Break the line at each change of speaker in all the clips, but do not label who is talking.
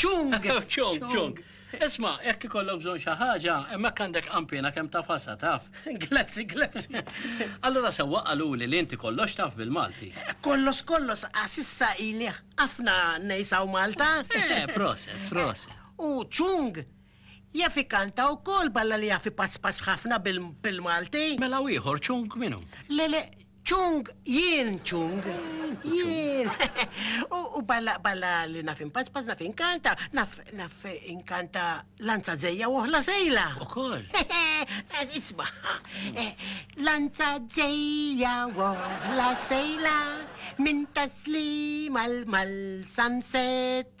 Ċung! Ċung, ċung.
Isma, jekk ikollok bżon xi ħaġa, hemmhekk għandek qampina kemm taf ħasa taf. Grazzi, grazzi.
Allura sewwa
qaluli li inti kollox taf bil-Malti. Kollox kollox
għax issa ili ħafna ngħix hawn Malta. Eh, proset,
proset. U
ċung, Jaf ikanta wkoll balla li jaf ipasspass ħafna bil-Malti. Mela u ieħor
Chung minu? Le le,
Chung, jien Chung. Jien. U balla balla li naf impasspass naf inkanta, naf naf inkanta lanza zejja u oħla sejla. Ukoll. Isma, eh, lanza zejja u oħla sejla minn taslima l-mal sunset.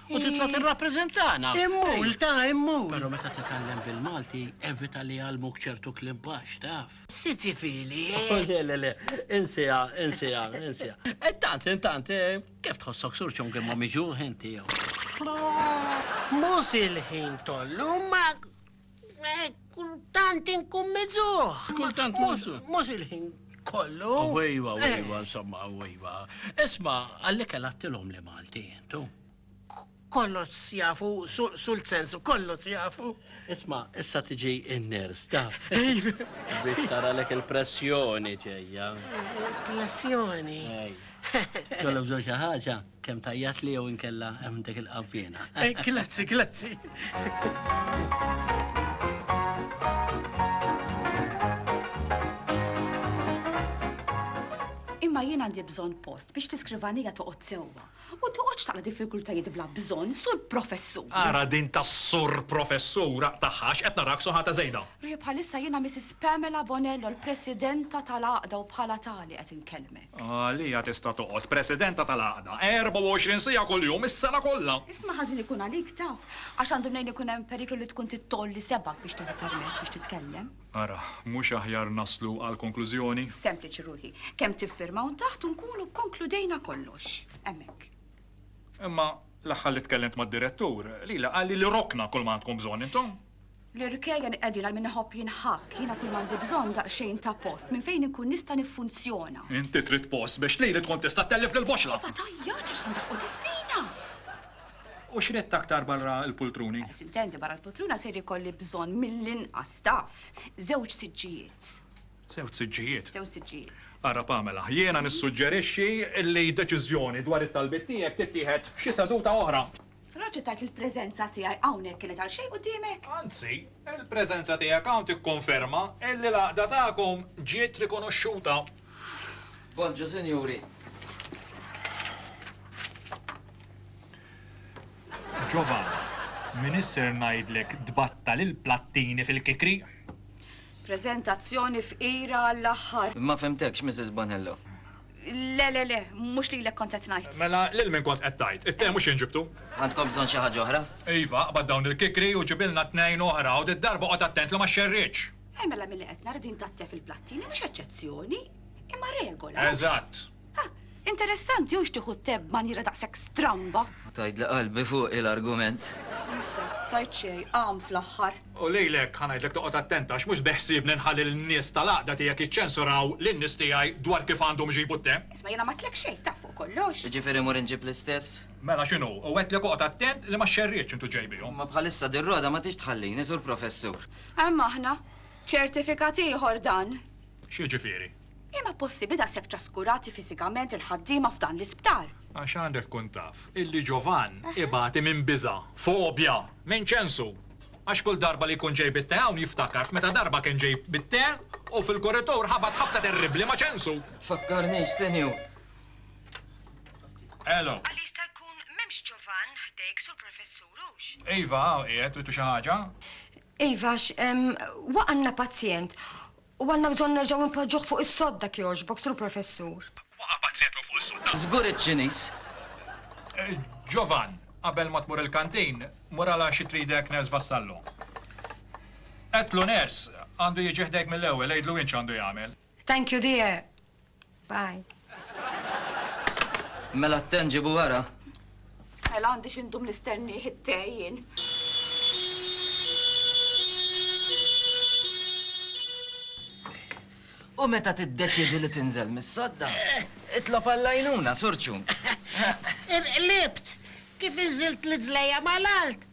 U titla' tirrappreżentana. Immur, ta'
immur. Però meta titgħallem
bil-Malti, evita li jgħallmuk ċertu kliem baxx, taf. Sizi fili,
eh? Le, le, le,
insija, insija, insija. Intant, e intant, e kif tħossok sur ċongri ma miġuħ inti jew?
Mhux il-ħin kollu, ma Eh, kultant inkun mizuħ. Kultant mizuħ.
Mux il-ħin
kollu. Wejwa, eh. wejwa,
insomma, wejwa. Isma, għalli kella t-tilom li Malti, tu? Kollu
sjafu, sul sensu, kollu sjafu. Isma, issa
tiġi in-ners, ta' biex tara lek il-pressjoni ġeja. Pressjoni. Kollu bżon xaħġa. Kem tajjat li jew inkella hemm dik il-qavvina. Eh, grazzi, grazzi.
Imma jien għandi bżonn post biex tiskrivanija toqgħod sewwa u toqgħodx taqla diffikultajiet bla bżonn sur professur. Ara din ta'
sur professura taħħax qed narak soħata żejda. Ruħi bħalissa jiena
Mrs. Pamela Bonello l-Presidenta tal-Għaqda u bħala tali qed inkellmek. Għalija tista'
toqgħod Presidenta tal-Għaqda 24 siegħa kuljum is-sena kollha! Isma' ħażin ikun għalik,
taf, għax għandu mnejn ikun hemm periklu li tkun trid tgħolli sebgħek biex tieħu permess biex titkellem. Ara, mhux
aħjar naslu għall-konklużjoni? Sempliċi, ruħi.
Kemm tiffirma hawn taħt u nkunu kkonkludejna kollox. Hemmhekk. Imma
l-aħħar li tkellimt mad-Direttur, lili qalli li rokna kull ma għandkom bżonn intom. L-irkejjen
qegħdin għal min iħobb jinħakk, jiena kull m'għandi bżonn daqsxejn ta' post minn fejn inkun nista' niffunzjona. Inti trid post
biex lili tkun tista' tellef lill-boxra. Iva tajjaġ għax ħandaħqu
l-ispina.
U x'ridt aktar barra l-pultruni? Biss intendi barra l-pultruna
ser ikolli bżonn mill-inqas taf żewġ siġġijiet. Żewġ
siġġijiet? Żewġ siġġijiet.
Ara Pamela, jiena
nissuġġerixxi li deċiżjoni dwar it-talbiet tiegħek tittieħed f'xi seduta oħra. F'raġel tgħid li
l-preżenza tiegħi hawnhekk kienet għal xejn quddiemek? Anzi,
il-preżenza tiegħek hawn tikkonferma illi l-għaqda tagħkom ġiet rikonoxxuta.
Poġġu, sinjuri.
Giovanna, min isser ngħidlek tbattal il-plattini fil-kikri?
Preżentazzjoni fqira għall-aħħar. Ma fhimtekx, Mrs.
Bonello. Le, le,
le, mhux lilek kont qed ngħid. Mela, lil min kont qed
tgħid? It-te mhux jien ġibtu. Għandkom bżonn xi ħaġa
oħra? Iva, aqbad dawn
il-kikri u ġibilna tnejn oħra u did-darba oqgħod attent li ma xxerridx. Eh, mela milli qed nara
din tat-te fil-plattini mhux eċċezzjoni, imma regola. Eżatt. Ah, interessanti hux tieħu t-te b'manjiera daqshekk stramba. Tgħidli qalbi
fuqi l-argument. Issa,
tajt xejn, għam fl-aħħar. U lilek ħa
ngħidlek toqgħod attent għax mhux beħsiebni nħalli lin-nies tal-għaqda tiegħek jiċċensuraw lin-nies tiegħi dwar kif għandhom iġibu t-te. Isma' jiena m'għedtlek xejn,
taf fuq kollox. Jiġifieri mmur inġib
l-istess? Mela x'inhu? U
għedtlek oqgħod attent li ma xxerridx intu ġej bihom. Imma bħalissa din Rhoda
ma tridx tħallini, Sur Professur. Hemm aħna.
Ċertifikat ieħor dan. X'jiġifieri?
Imma possibbli
daqshekk traskurati fiżikament il-ħaddiema f'dan l-isptar? Għax għandek tkun
taf illi Ġovann ibati minn biża', fobja, minn ċensu. Għax kull darba li jkun ġej bit-te hawn jiftakar f'meta darba kien ġej bit-te u fil-kuritur ħabat ħabta terribbli ma' ċensu. Tfakkarnix, Sinjur.
Elo. Għal
jista'
jkun m'hemmx Ġovann ħdejk, Sur Professur, hux? Iva, hawn
qiegħed, trittu xi ħaġa? Iva, għax
waqa' għandna pazjent U għandna bżonn nerġgħu npoġġuh fuq is-sodda jekk jogħġbok, Sur Professur. Waqa' pazzjatu fuq
is-sodda! Żgur iċ-Ċiniż!
Ġovann,
qabel ma tmur il-kantin, muralha xi tridek Ners Vassallo. Għedtlu Ners għandu jiġi ħdejk mill-ewwel, għidlu int x'għandu jagħmel. Thank you, dear.
Bye.
Mela t-ten ġibu wara. Mela
għandi x'indum nistennieh it-te jien.
U meta tiddeċidi li tinżel mis-sodda, itlob għall-għajnuna, surċu.
Irqlibt, kif inżilt l-iżlejja mal-alt,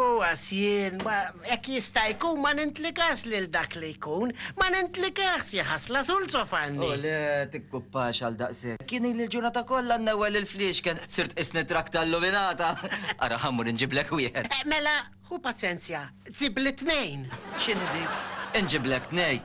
U għax
jien, jekk jista' jkun, ma nintlikax lil dak li jkun, ma nintlikax, xi ħasla sul sofanni! O le,
tikkuppax għal daqshekk! Jien ili l-ġurnata kollha nnewwel il-fliexken, sirt tqisni trakta illuminata! Ara ħa mmur inġiblek wieħed! Mela, ħu
paċenzja, ġibli tnejn! X'inhi dik?
Inġiblek tnejn!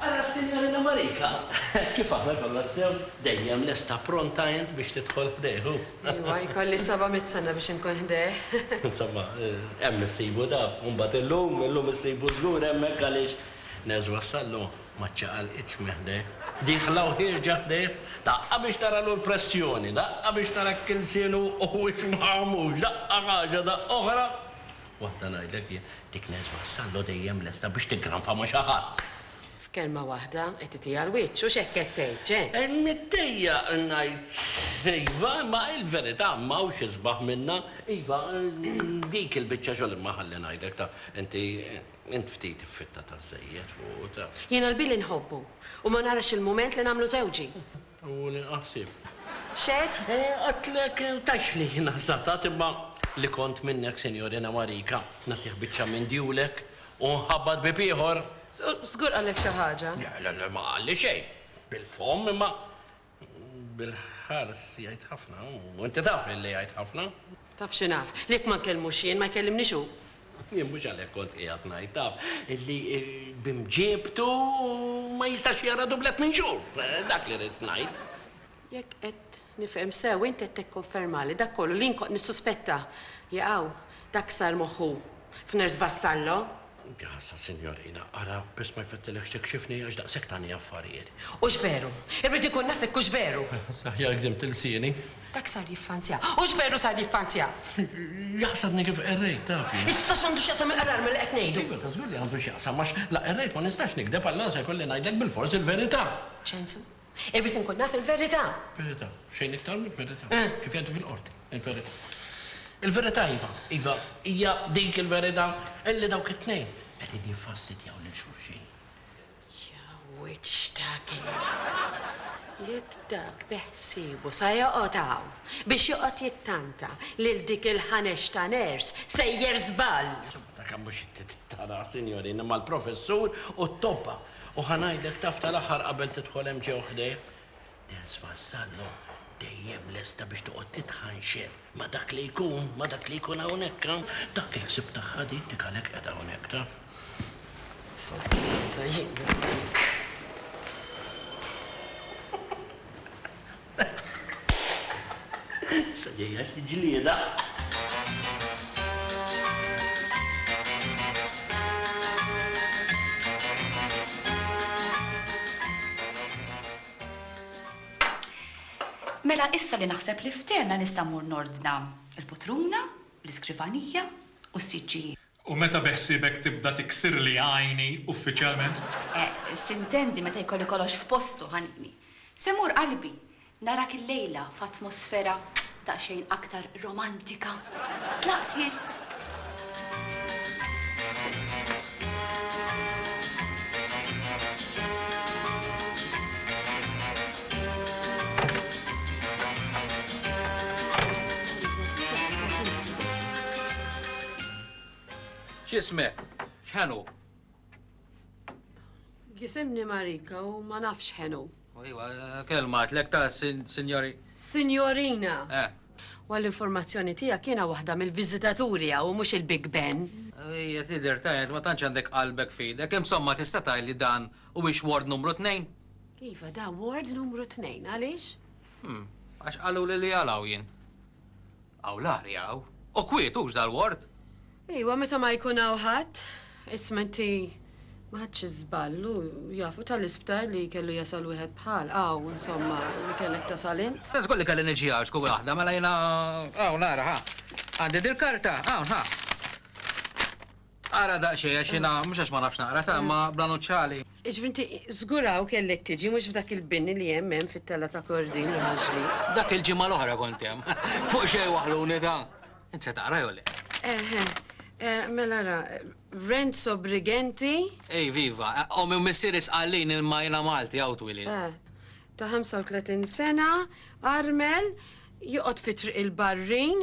Ara s-Sinjorina Marika, kif aħna konna sew, dejjem lesta pronta int biex tidħol ħdejhu. Iwa, jkolli
seba' mitt sena biex inkun ħdejh. Insomma,
hemm issibu daf. U mbagħad illum, illum issibu żgur hemmhekk għaliex neżwa s-sallu, ma ċċaqalqitx minn ħdejh. Dieħla u ħierġa ħdejh, daqqa biex taralu l-pressjoni, daqqa biex tara hekk ilsienu huwiex maħmux, daqqa ħaġa, daqqa oħra. Waħda ngħidlek jien, dik Nez Vassallo dejjem lesta biex tiggranfa ma' xi ħadd. F'kelma waħda,
qed titiha l-wiċċ, hux hekk qed tgħid, Ġenz? Niddejjaq
ngħid iva, imma hi l-verità, m'hawnx isbaħ minnha. Iva, dik il-biċċa xogħol, imma ħalli ngħidlek, taf, inti, int ftit iffittata żżejjed fuqu, taf. Jiena lbieli nħobbu,
u ma narax il-mument li nagħmlu żewġi. U nieqa'
ħsieb. X'għedt?
Għedtlek,
tgħidxli jiena żatat, imma li kont minnek, Sinjorina Marika, nagħtih biċċa minn djulek u nħabbat bieb ieħor. Żgur qallek
xi ħaġa? Le, le, le, ma qalli
xejn. Bil-fomm, imma bil-ħars jgħid ħafna, u inti taf li jgħid ħafna. Taf xi naf?
Li jekk ma nkellmux jien, ma jkellimnix hu. Jien mhux għalhekk
kont qiegħed ngħid, taf, li b'imġiebtu ma jistax jara dublett minn xhur. Dak li ridt ngħid. Jekk qed
nifhem sew, int qed tikkonfermali dak kollu li jien kont nissuspetta. Jaqaw, dak sar moħħu f'Nurse Vassallo. Grazzi,
sinjorina. Ara, biss ma jfettilekx tikxifni għax daqshekk tagħni affarijiet. Hux veru!
Irrid inkun naf hekk hux veru! Aħjar gdimt
ilsieni. Dak sar jiffanzja.
Hux veru sar jiffanzja! Jaħsabni
kif qerrejt, tafi. Issa x'għandu x'jaqsam
il-qrar ma' li qed ngħidu? Iva, ta' żgur li għandu x'jaqsam
għax la qerrejt ma nistax nigdeb allura se jkolli ngħidlek bilfors il-verità. Ċensu,
Irrid inkun naf il-verità. Verità, xejn
iktar mill-verità. Kif jgħidu fil-qorti, il-verità. Il-verità iva, iva, hija dik il-verità illi dawk it-tnejn qegħdin jiffastidjaw lil xulxin. Ja wiċċ
ta' kif! Jekk dak beħsiebu sa joqgħod hawn biex joqgħod jittanta lil dik il-Ħanex ta' nurse, sejjer żball! Insomma, dak mhux
it-tip ta' sinjorina mal-professur u t-tobba. U ħa ngħidlek taf tal-aħħar qabel tidħol hemm ġew ħdejh? Nels Vassallo dejjem lesta biex toqgħod titħanxeb ma' dak li jkun, ma' dak li jkun hawnhekk hawn. Dak il-ħsieb tagħha din dik għalhekk qiegħda hawnhekk taf. Sodda
jien.
Issa ġejja xi ġlieda.
Mela issa li naħseb li ftehemna nista' mmur nordna l-putruna, l-iskrivanija u s-siġġijiet. U meta beħsiebek
tibda tiksirli għajni uffiċjalment? S'intendi
meta jkolli kollox f'postu, ħanini. Se mmur qalbi, narak illejla f'atmosfera daqsxejn aktar romantika. Tlaqt jien.
X'ismek? X'ħen hu?
Jisimni Marika u ma nafx ħen hu. Iva,
kelma għatlek ta' sinjori. Sinjorina.
Eh. U
l-informazzjoni
tiegħek jiena waħda mill-viżitaturi u mhux il-Big Ben. Ija tidher
ta' ma tantx għandek qalbek fidek, insomma tista' tgħidli dan u biex ward numru tnejn? Iva, da
ward numru tnejn, għaliex? Hmm, għax
qalu li li għalaw jien. Hawn l-arja hawn. U kwiet hux dal-ward? Ejwa, meta
ma jkun hawn ħadd. Isma' inti, ma ħadtx iż-żball, hu jaf, hu tal-isptar li kellu jasal wieħed bħal, hawn, insomma, li kellek tasal int. Tant żgur li kelli niġi hawn
x'kun waħda, mela jiena hawn ara, ħa. Għandi dil-karta, hawn, ħa. Ara daqsxejn għax jiena mhux għax ma nafx naqra ta' imma bla nuċċali. Jiġifieri inti
żguraw kellek tiġi mhux f'dak il-bini li hemm hemm fit-tella ta' Kordin u Ħaġli. Dak il-ġimgħa l-oħra
kont hemm. Fuq xejn waħluni ta'. Int se taqra jew le? Eħe.
Mela ara, Renzo Brigenti. Iv iva.
Ommi u missieri Sqallin imma jiena Malti hawn twielidt. Eh. Ta' 35
sena, armel, joqgħod fi Triq il-Barrin,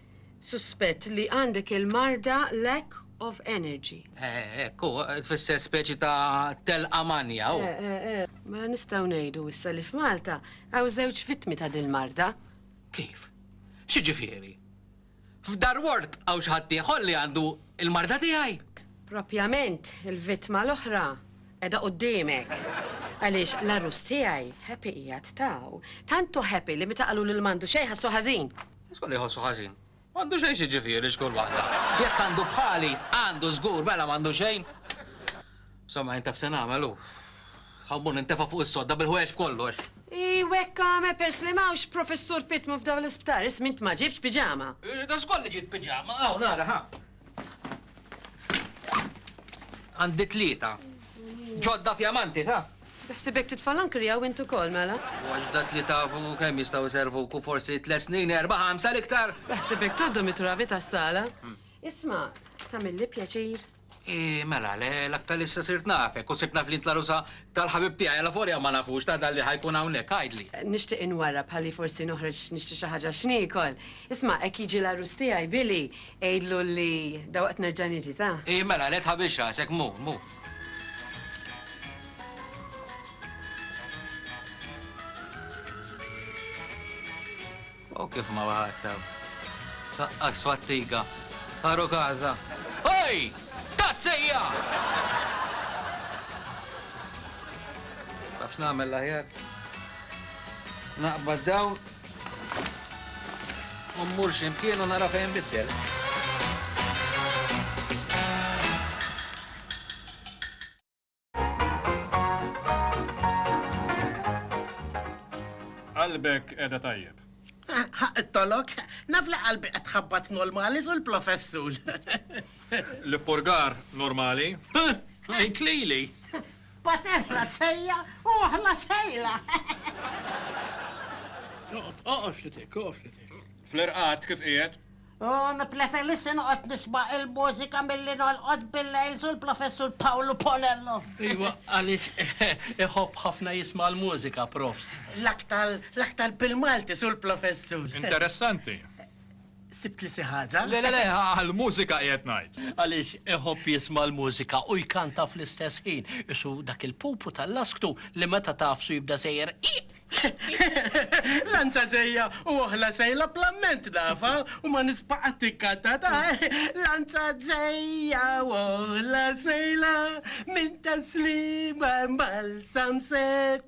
Suspett li għandek il-marda lack of energy. Hekk hu,
tfisser speċi ta' telqa manja hu. Eh, eh, eh. Mela nistgħu
ngħidu issa li f'Malta hawn żewġ vittmi ta' dil-marda. Kif?
X'jiġifieri? F'Dar Ward hawn xi ħadd ieħor li għandu il-marda tiegħi? Propjament,
il-vittma l-oħra qiegħda qudiemek. Għaliex l-arrus tiegħi happy qiegħed taw. Tantu happy li meta qalu lil mandu xejn ħassu ħażin. Żgur jħossu ħażin.
M'għandu xejn xi ġifieri xkur waħda. Jekk għandu bħali, għandu żgur mela m'għandu xejn. Somma jintaf se nagħmel hu. Ħammur nintefa' fuq is-sodda bil-ħwejjeġ kollox. I wekka
me pers li mawx professur Pitmu f'daw l-isptar, ismint ma ġibx piġama. Da żgur li ġiet
piġama, hawn nara ħa. Għandi tlieta. Ġodda fjamanti, ta? Bħsibek titfa'
l-ankri hawn int ukoll, mela? U għax dak li tafu
kemm jistgħu jservuk u forsi tliet snin, erba' ħamsa l-iktar. Bħsibek toddhom
it-travi tas-sala? Hmm. Isma', tagħmilli pjaċir. I mela,
l-aktar issa sirt nafek u sirt naf li tlarusa tal-ħabib tiegħi għal forja ma nafux ta' dalli ħajkun hawnhekk għajdli. Nixtieq inwarra
bħalli forsi noħroġ nixtri xi ħaġa x'niekol. Isma' hekk jiġi l-għarus tiegħi, Billy, għidlu li dawaqt nerġa' niġi, ta? Hi, mela, le tħabbix
rasek, mhu, mhu. O kif ma waħadtab. Taqqas fattiga. Ħaru kaza. Oj! Tazzija! Tafx nagħmel l-aħjar? Naqbad dawn u mmur xi mkien u nara fejn nbiddel.
Qalbek qiegħda tajjeb. Ħaq it-tolok,
naf li qalbi qed tħabbat normali sul plofessul.
L-ippurgar normali? Għidlili!
Paterna tsejja u aħna sejla!
Oqgħod, oqgħod ftit, oqgħod ftit.
Fl-irqad kif qiegħed? Un plefelissi
noqgħod nisma' il-mużika milli nolqod bil-lejl sul Professur Pawlu Ponello. Iva, għaliex
iħobb ħafna jisma' l-mużika, Profs. L-aktar, l-aktar
bil-Malti sul Professur. Interessanti.
sibt
li xi ħaġa. Le, le, le,
għall-mużika qiegħed ngħid. Għaliex iħobb
jisma' l-mużika u jkanta fl-istess ħin, isu dak il-pupu tal-lasktu li meta tagħfsu jibda sejjer
Lanċa ġejja u oħla sejla plamment nafa u ma nispa' qatt tikkanta ta' lanċa ġejja u oħla sejla minn taslima mal-samset.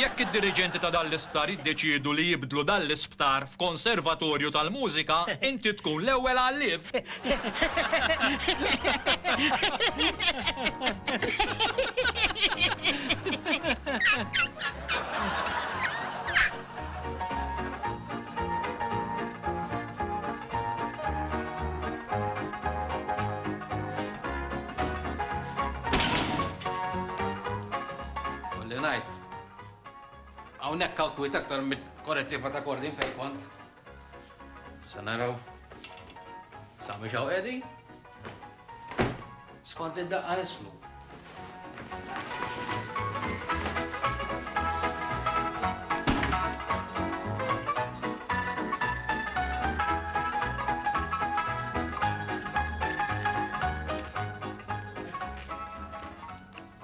Jekk id-diriġenti ta' dan l-isptar jiddeċiedu li jibdlu dan l-isptar f'konservatorju tal-mużika, inti tkun l-ewwel għallief.
Kolli ngħid. Hawnhekk hawn kwiet aktar mill-korrettiva ta' Kordin fejn kont. Se naraw. Sami xaw qegħdin. Skont id-daqqa nislu.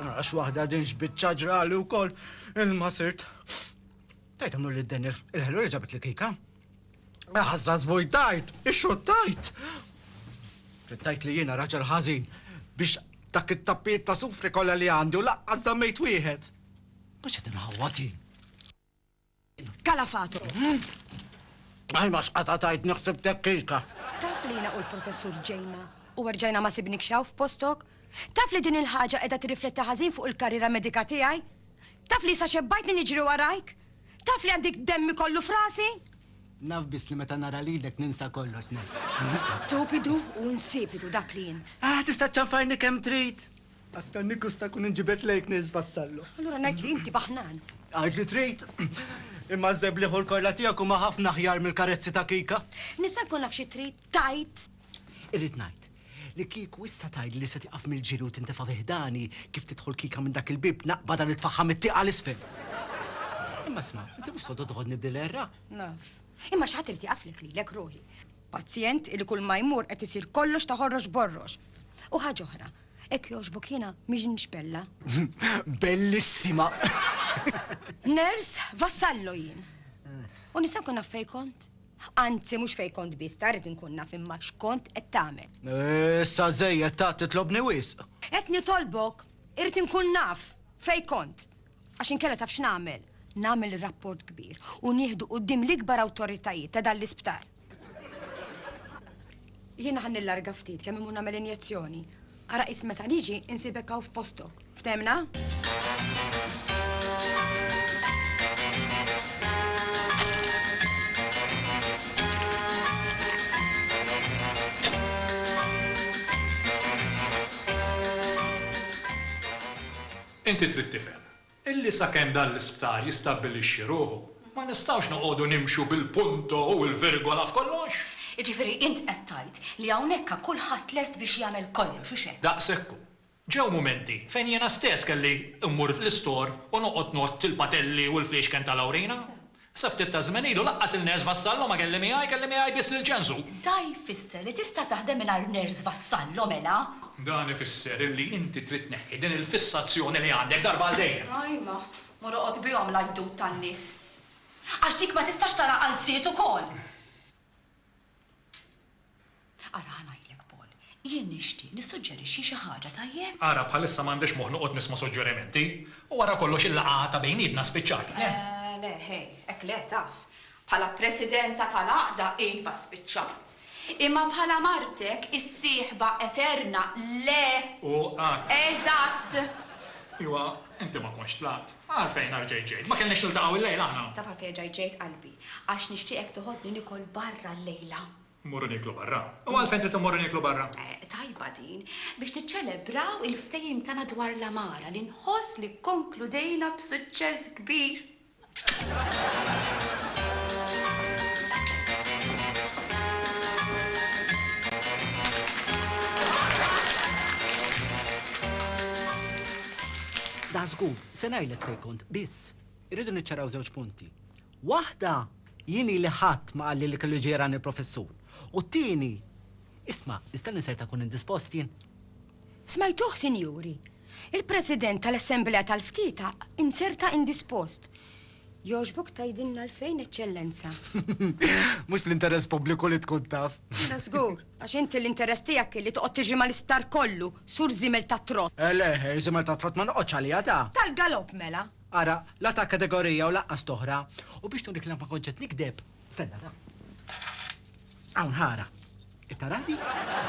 Ara x'waħda din x'biċċa ġrali wkoll ilma sirt. Tajt għamlu li din il-ħelu li ġabet li kika. Ħazza zvojtajt, ixxottajt. Ġittajt li jiena raġel ħażin biex dak it-tappiet ta' sufri kollha li għandi u laqqas dammejt wieħed. Mhux qed inħawwatin.
Kalafato.
Għal ma xqata tajt nixsib tekkika. Taf li jina u
l-professur ġejna u għarġajna ma sibnik xaw f'postok? Taf li din il-ħaġa edha tirrifletti ħażin fuq il-karriera medika tiegħi? Taf li sa xebbajtni niġri warajk? Taf li għandik demmi kollu frasi? Naf biss
li meta nara lilek ninsa kollox nifs. Stupidu
u insipidu dak li int. Ah, tista' ċanfarni
kemm trid. Aktar nikkusta kun inġibed lejk Nils Vassallo. Allura ngħid li inti
baħnan. Għid li trid.
Imma żeb li ħur kollha tiegħek huma ħafna aħjar mill-karezzi ta' Kika. Nista' nkun naf xi
trid tgħid? Irrid ngħid
li kieku issa tgħid li se tiqaf mill-ġiri u tintefa' fi ħdani kif tidħol Kika minn dak il-bib naqbada nitfaħħa mit-tieqa l-isfel. Imma sma, inti mhux sodo toħodni b'dil-erra. Naf.
Imma xi ħadd irid iqaflek lilek ruħi. Pazjent li kull ma jmur qed isir kollox ta' ħorrox borrox. U ħaġa oħra, hekk jogħġbok jiena m'iġnix bella.
Bellissima!
Ners, vassallo jien. U nista' nkun naf fejn kont? Anzi, mhux fejn kont biss, ta' rrid inkun naf imma x'kont qed tagħmel. Issa
żejjed ta' titlobni wisq. Qed nitolbok,
irrid inkun naf fejn kont. Għax inkella taf x'nagħmel? Nagħmel ir-rapport kbir u nieħdu quddiem l-ikbar awtoritajiet ta' dan l-isptar. Jiena ħa nillarga ftit kemm imur nagħmel injezzjoni. Ara qis meta niġi insibek hawn f'postok. Ftemna?
Inti trid tifhem illi sakemm dan l-isptar jistabbilixxi ruħu, ma nistgħux noqogħdu nimxu bil-punto u l-virgola f'kollox. Jiġifieri int
qed tgħid li hawnhekk ha kulħadd lest biex jagħmel kollox, hux hekk? Daqshekk hu. Ġew
mumenti fejn jiena stess kelli mmur fl-istor u noqgħod ngħodd il-patelli u l-fliexken tal-awrina. Sa ftit taż-żmien ilu laqqas il-nurse vassallo ma kelli miegħi, kelli miegħi biss lil Ġenżu. Da jfisser
li tista' taħdem mingħajr nurse vassallo, mela? Dan ifisser
illi inti trid tneħħi din il-fissazzjoni li għandek darba għal dejjem. Ajma, mur
oqgħod bihom l-għajdut tan-nies. Għax dik ma tistax tara qalziet ukoll! Ara ħa ngħidlek, Paul. Jien nixtieq nissuġġerixxi xi ħaġa, tajjeb? Ara, bħalissa m'għandix
moħħ noqgħod nisma' suġġerimenti. U wara kollox il-laqgħa ta' bejnietna spiċċat, le? Eh, le, ħej,
hekk le, taf. Bħala presidenta tal-għaqda, iva, spiċċat. Imma bħala martek, is-sieħba eterna, le! U ara.
Eżatt!
Iwa,
inti ma kontx tlaqt. Għalfejn arġajt ġejt? Ma kellniex niltaqgħu illejla aħna? Taf għalfejn erġajt ġejt,
qalbi? Għax nixtieqek toħodni nikol barra llejla. Mmorru nieklu
barra? U għalfejn trid immorru nieklu barra? Tajba din,
biex niċċelebraw il-ftehim tagħna dwar l-għamara li nħoss li kkonkludejna b'suċċess kbir.
Da żgur, se ngħidlek fejn kont, biss. Irridu niċċaraw żewġ punti. Waħda, jien ili ħadd ma qalli li kellu jiġi jarani l-Professur, u t-tieni, isma', nistenni ser ta' nkun indispost jien. Smajtuh,
sinjuri! Il-President tal-Assemblea tal-Ftieta inserta indispost. Jogħġbok tgħidilna għalfejn, Eċċellenza?
Mhux fl-interess pubbliku li tkun taf. Mela żgur, għax
inti l-interess tiegħek kien li toqgħod tiġri mal-isptar kollu, sur żiemel tat-trott. Eh le, żiemel tat-trott
ma noqgħodx għaliha ta'. Tal-galopp mela!
Ara, la ta'
kategorija u lanqas t'oħra. U biex nurik li ma kontx qed nikdeb, stenna da. Hawn ħara. Qed tara di?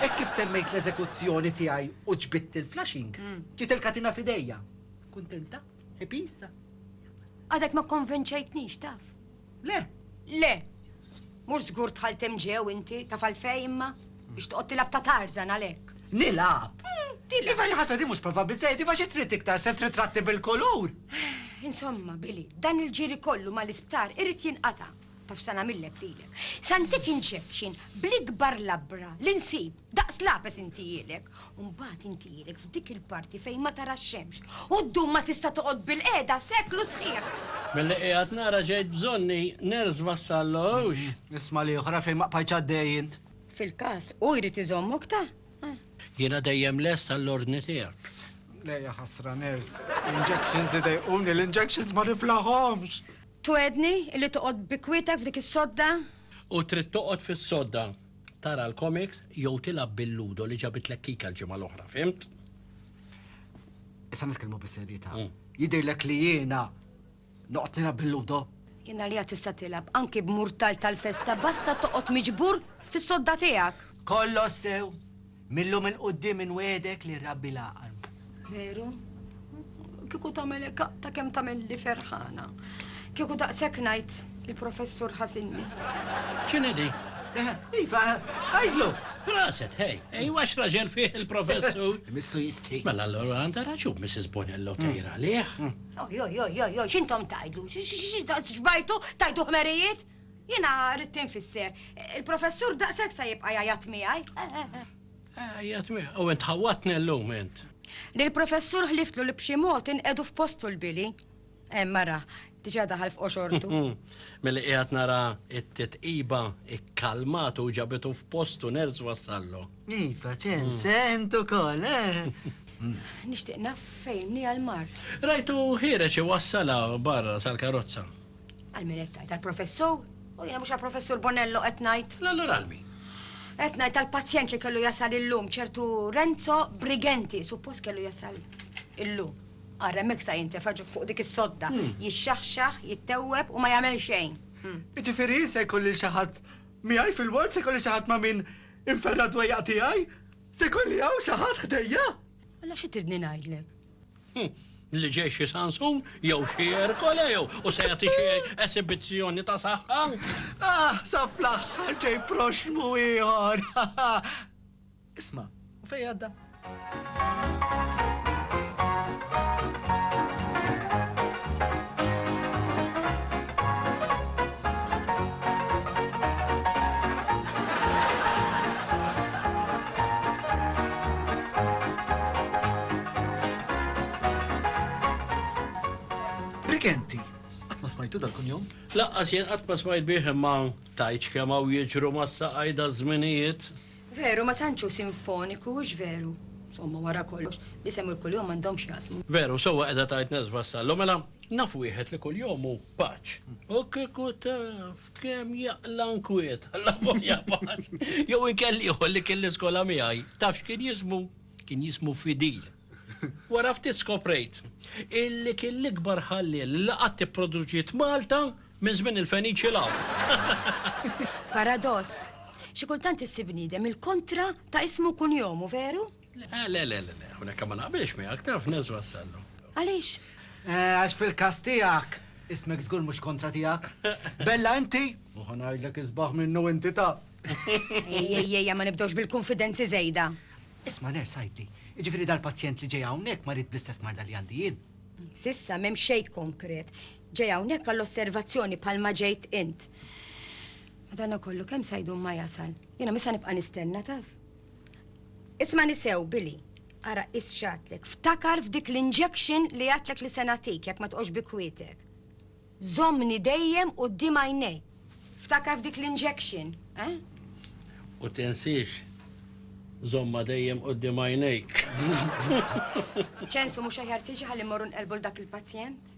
Hekk kif temmejt l-eżekuzzjoni tiegħi u ġbidt il-flashing, ġiet il-katina f'idejja. Kuntenta? Happy issa? Għadek
ma kkonvinċejtnix, taf. Le.
Le.
Mhux żgur tħalt hemm ġew inti, taf għalfej imma? Biex toqgħod tilab ta' Tarzan għalhekk. Nilab. Hmm,
tilab. Iva
ħaġa di mhux prova
biżejjed, iva xi trid iktar se tritratti bil-kulur. Insomma,
Billy, dan il-ġiri kollu mal-isptar irid jinqata' taf sa nagħmillek lilek. Santif jinċekxin bl-ikbar labra li nsib. Daqs lapes inti jilek, u mbagħad inti jilek f'dik il-parti fejn ma tara x-xemx, u ddum ma tista' toqgħod bil-qiegħda seklu sħiħ. Milli qiegħed
nara ġejt bżonni nerż Vassallo, hux? Isma' l-ieħor
fejn ma qbajtx għaddej int. Fil-każ, hu
jrid iżommok ta'. Jiena
dejjem lest għall-ordni tiegħek. Le ja ħasra
nerż. L-injections idejquni, l-injections ma niflahomx! Twegħdni
li toqgħod bi kwiettek f'dik is-sodda? U trid
toqgħod fis-sodda. tara l-comics jew tilgħab bil-ludo li ġabitlek kika l-ġimgħa l-oħra, fimt? Issa
nitkellmu bis-serjetà. Mm. Jidhirlek li jiena noqgħod nilgħab bil-ludo? Jiena li tista'
tilgħab anki b'murtal tal-festa basta toqgħod miġbur fis-sodda tiegħek. Kollox sew,
Mil-lum 'il quddiem inwiegħdek li rrabbi l-għaqal. Veru?
Kieku tagħmel hekk ta' kemm tagħmilli ferħana. Kieku daqshekk ngħid il-professur ħasinni. X'inhi di?
Eh, iva,
għajdlu! Raset, hej,
hej, wax raġel fih il-professur. Missu jistħi.
Mela l-għura għanda raġu,
Mrs. Bonello mm. tejra liħ. Mm. Oj, oj, oj,
oj, xintom tajdu, xbajtu, tajdu ħmerijiet? Jiena rrid tinfisser. Il-professur daqshekk se jibqa' jgħajjat miegħi. Eh, eh, eh. Għajjat
mi, u int ħawatni l-lum int. Li l-professur
ħliftlu li b'xi mod inqedu f'postu l-bili. Eh, mara, diġa daħal f'qoxortu. Mill-li qiegħed
nara it-titqiba ikkalmatu u ġabitu f'postu nerz wassallu. Iva, ċen, mm.
sentu kol, eh.
Nishtiq naf fejn ni għal-mar. Rajtu ħireċi
wassala barra sal-karozza. Għal min qed
tgħid għall-professur? U jiena mhux għall-professur Bonello qed ngħid. L-allura għal min?
Qed ngħid
tal-pazjent li kellu jasal illum ċertu Renzo Brigenti, suppost kellu jasal illum. Ara hemmhekk sa jintefa' fuq dik is-sodda, hmm. jixxaħxaħ, jittewweb u ma jagħmel xejn. Hmm. Iġifieri se
jkolli xi ħadd miegħi fil-ward se jkolli xi ħadd ma' min inferra dwejja tiegħi? Se jkolli hawn xi ħadd ħdejja? Alla xi tridni
ngħidlek?
Li ġej xi Sansun jew xi Erkole jew u se jagħti xi esibizzjoni ta' saħħa. Ah, sa
fl-aħħar ġej proxmu ieħor. Isma', u fejn għadda? Brigenti, qatt ma smajtu dal-kunjom? Laqqas jien qatt ma
smajt bih imma tajċ kemm hawn jiġru mas-saqajda żminijiet. Veru ma tantx
hu sinfoniku, hux veru? Somma wara kollox, l-isem u l-kuljom m'għandhomx x'jaqsmu. Veru, sewwa qiegħda tgħid
Nez Vassallo, mela naf wieħed li kuljom hu paċ. U kieku taf! Kem jaqla nkwiet, la boja paċ. Jow inkelliħu li kelli skola miħaj, tafx kien jismu? Kien jismu Fidil. Wara ftit skoprejt, illi kien l-ikbar ħalli l-laqat produġiet Malta minn żmien il-Feniċi law. Paradoss,
xi kultant issib bniedem il-kontra ta' ismu kun jomu, veru? Le, le, le, le, le,
hawnhekk ma naqbilx miegħek, taf Nez Vassallo. Għaliex?
Eh, għax
fil-każ tiegħek, ismek żgur mhux kontra tiegħek. Bella inti? U ħa ngħidlek isbaħ minnu inti taf.
Ejjejja, ma nibdewx bil-konfidenzi żejda. Isma' ner
sajdi, jiġifieri dal-pazjent li ġej hawnhekk marid bl-istess marda li għandi jien. Sissa m'hemm
xejn konkret. Ġej hawnhekk għall-osservazzjoni bħalma ġejt int. Madankollu kemm sajdu ma jasal. Jiena misa nibqa' nistenna taf. Ismani sew, Billy. Ara qis x'għadtlek. Ftakar f'dik l-injection li għadtlek li se nagħtik jekk ma tqgħodx bi kwietek. Żommni dejjem quddiem għajnejk. Ftakar f'dik l-injection, eh?
U tinsiex, żommha dejjem quddiem għajnejk.
Ċensu mhux aħjar
tiġi
ħalli mmorru nqelbu l dak il-pazjent?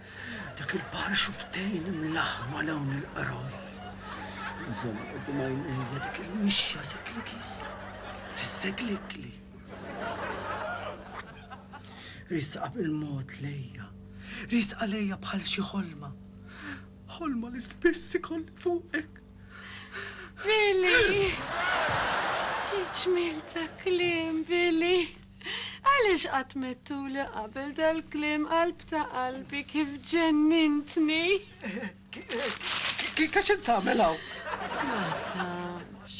Dak il-baħar xufftejn imlaħħma 'l hawn il-qroj. Inżomm quddiem għajnejja dik il-mixja seglikija tisseglikli. Riesqa bil-mod lejja, riesqa lejja bħal xi ħolma. Ħolma li spiss ikolli fuqek. Billy!
Xi ġmiel ta' kliem, Billy! Għaliex qatt mettuli qabel dal-kliem qalb ta' qalbi kif ġennintni?
Kif qed tagħmel hawn? Ma
tafx.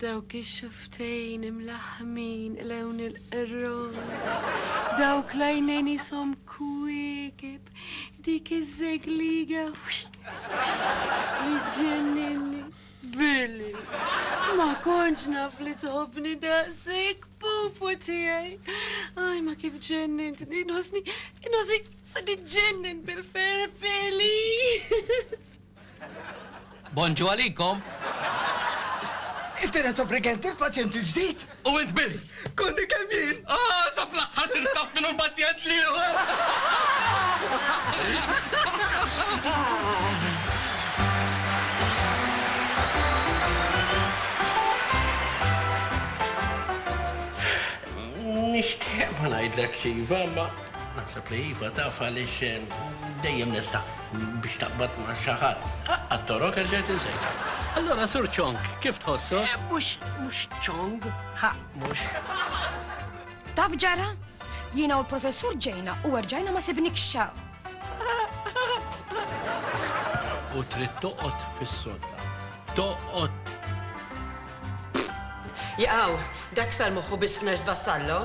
Dawk ix-xuftejn imlaħħmin lewn il-qerron. Dawk l-għajnejn isom kwiekeb. Dik iż-żegliga. Li ġenninni. Billy, ma kontx naf li tħobni daqsik, pupu tiegħi. Aj, ma kif ġennin, inħosni, inħosni, sa ġennin bil-fer, Billy.
Bonġu għalikom. Inti
Renzo Brigenti, il-pazjent il-ġdid? U int Billy?
Konni kemm jien!
Ah, sa fl-aħħar sirt
taf min hu l-pazjent li hu!
Nixtieq ma ngħidlekx iva, imma naħseb li iva taf għaliex dejjem nista'. Biex taqbad ma' xi ħadd. Aqqa' t-torok erġajt insejtha. Allura Sur Chong, kif tħossok? Mhux, mhux
Chong, ħa, mhux.
Taf x'ġara? Jiena u l-Professur ġejna u erġajna ma sibnikx x'hawn.
U trid toqgħod fis-sodda. Toqgħod!
Jaqaw, dak sar moħħu biss f'Nurse Vassallo?